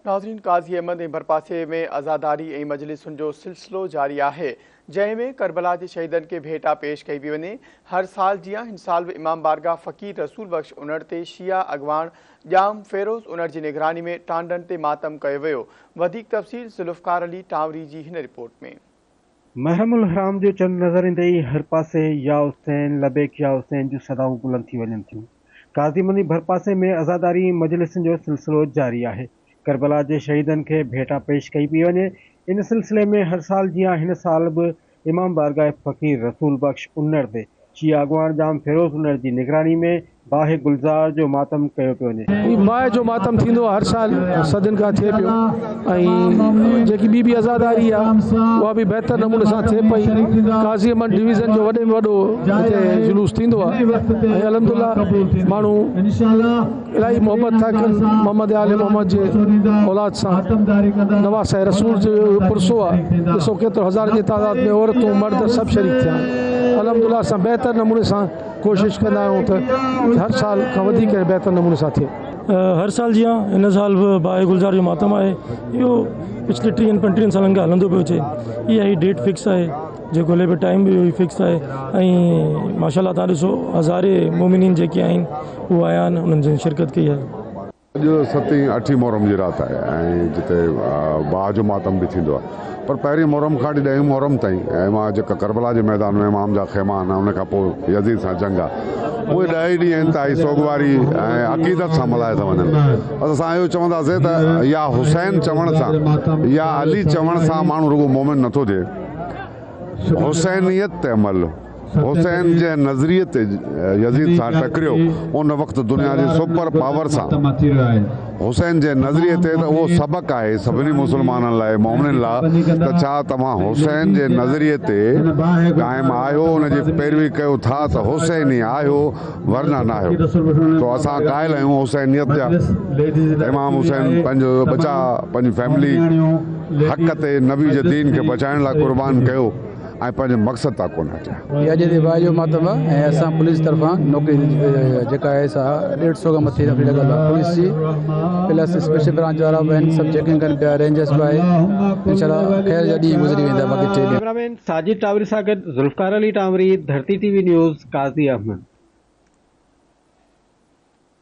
ناظرين قاضي احمد ۽ ڀرپاسي ۾ عزاداري ۽ مجلسن جو سلسلو جاري آهي جنهن ۾ ڪربلا جي شهيدن کي ڀيٽا پيش ڪئي پي وڃي هر سال جيان هن سال به امام بارگاهه فقير رسول بخش انڙ تي شيعه اڳواڻ ڄام فيروز انڙ جي نگراني ۾ ٽانڊن تي ماتم ڪيو ويو وڌيڪ تفصيل ذوالفقار علي ٽانوري جي هن رپورٽ ۾ محرم الحرام جو چنڊ نظر ايندي ئي هر پاسي يا حسين، لبيڪ يا حسين جون صدائون بلند ٿي وڃن ٿيون. قاضي مني ڀرپاسي ۾ عزاداري مجلسن جو سلسلو جاري آهي. ڪربلا جي شهيدن کي ڀيٽا پيش ڪئي پئي وڃي. ان سلسلي ۾ هر سال جيان هن سال به امام بارگاهه فقير رسول بخش انڙ تي شيعي اڳواڻ ڄام فيروز انڙ جي نگراني ۾ باهه گلزار جو ماتم ڪيو پيو وڃي. هي باهه جو ماتم ٿيندو آهي هر سال صدين کان ٿئي پيو ۽ جيڪي ٻي به عزاداري آهي اها به بهتر نموني سان ٿئي پئي قاضي احمد ڊويزن جو وڏي ۾ وڏو هتي جلوس ٿيندو آهي ۽ الحمدلله ماڻهو الاهي محبت ٿا ڪن محمد آل محمد جي اولاد سان نواسه رسول جو پرسو آهي ڏسو ڪيترو هزارن جي تعداد ۾ عورتون مرد سڀ شريڪ ٿيا آهن الحمدلله اسان بهتر نموني سان ڪوشش ڪندا آهيون ته هر سال کان وڌيڪ ۽ بهتر نموني سان ٿئي. هر سال جيان هن سال به باهه گلزار جو ماتم آهي. اهو پڇلي ٽيهن پنٽيهن سالن کان هلندو پيو اچي. اها ئي ڊيٽ فڪس آهي جيڪو هلي پيو ٽائيم به اهو ئي فڪس آهي ۽ ماشاء الله تهان ڏسو هزارين مومنين جيڪي آهن اهو آيا آهن انهن شرڪت ڪئي آهي. اڄ ستين اٺين محرم جي رات آهي ۽ جتي باهه جو ماتم به ٿيندو آهي پر پهرين محرم کان وٺي ڏهين محرم تائين امان جيڪا ڪربلا جي ميدان ۾ امام جا خيما آهن ان کان پوء يزيد سان جنگ آهي اهي ڏهه ئي ڏينهن انتهائي سوڳواري ۽ عقيدت سان ملهايا ٿا وڃن بس اسان اهو چونداسين ته يا حسين چوڻ سان يا علي چوڻ سان ماڻهو رڳو مومن نٿو ٿئي حسينيت تي عمل حسين جنهن نظريي تي يزيد سان ٽڪريو ان وقت دنيا جي سپر پاور سان حسين جنهن نظريي تي ته اهو سبق آهي سڀني مسلمانن لاء مؤمنن لاء ته ڇا توهان حسين جي نظريي تي قائم آهيو ان جي پيروي ڪيو ٿا ته حسيني آهيو ورنه ناهيو سو اسان قائل آهيون حسينيت جا امام حسين پنهنجو ٻچا پنهنجي فيملي حق تي نبي جي دين کي بچائڻ لاء قربان ڪيو آء پنهنجي مقصد تان ڪونه هٽيا. هي اڄ جي واء جو ماتم آ ۽ اسان پوليس طرفان نوڪري جيڪا آهي سا ڏيڍ سئو کان مٿي نوڪري لڳل آ پوليس جي پلس اسپيشل برانچ وارا به آهن سڀ چيڪنگ ڪن پيا رينجرس به آهي انشاء الله خير جا ڏينهن گذري ويندا باقي ٽي ڏينهن ڪيمرامين ساجد ٽاوري سان گڏ Zulfiqar Ali Tanwari, Dharti T V news, Qazi Ahmed.